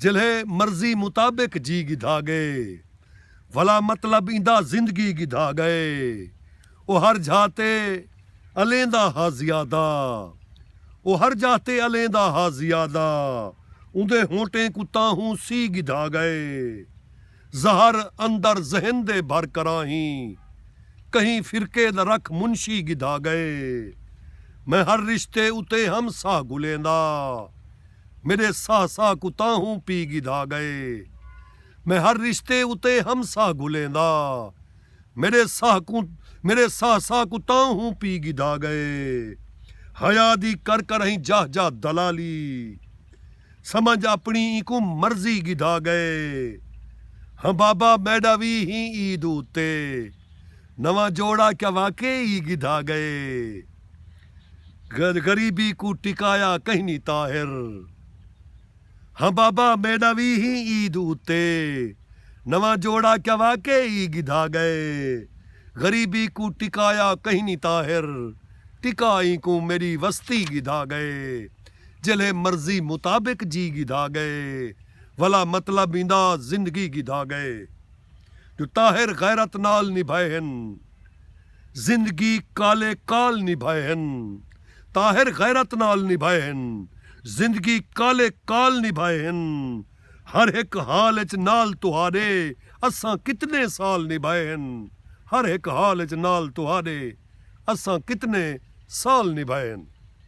جلھے مرضی مطابق جی گھدا گئے ولا مطلب ایندا زندگی گھدا گئے او ہر جھاہ تے الیندا ہا زیادہ او ہر جاہ تے الیندا ہا زیادہ اوندے ہونٹیں کوں تاہوں سی گھدا گئے زہر اندر ذہن دے بھر کراں ہی کہیں فرقے دا رکھ منشی گدھا گئے میں ہر رشتے اتے ہم ساہ گھلیں دا میڈے ساہ ساہ کوں تاں ہوں پی گدھا گئے میں ہر رشتے اتے ہم ساہ گھلیں دا میڈے ساہ کوں میڈے ساہ ساہ کوں تاں ہوں پی گدھا گئے حیا دی کر کر ہیں جاہ جاہ دلالی۔ سمجھ اپنی اینکوں مرضی گدھا گئے ہاں بابا میڈا وی ہی عید اتے نواں جوڑا کیا واقعی ہی گدھا گئے غریبی کوں ٹکایا کہنی طاہر ہاں بابا میڈا وی ہی عید اتے نواں جوڑا کیا واقعی ہی گدھا گئے غریبی کوں ٹکایا کہنی طاہر ٹکا اینکوں میڈی وستی گدھا گئے۔ جیلھے مرضی مطابق جی گھدا گئے ولا مطلب ایندا زندگی گھدا گئے جو طاہر غیرت نال نبھائے ہن زندگی کالے کال نبھائے ہن طاہر غیرت نال نبھائے ہن زندگی کالے کال نبھائے ہن ہر ہک حال اچ نال تہاڈے اساں کتنے سال نبھائے ہن ہر ہک حال اچ نال تہاڈے اساں کتنے سال نبھائے ہن۔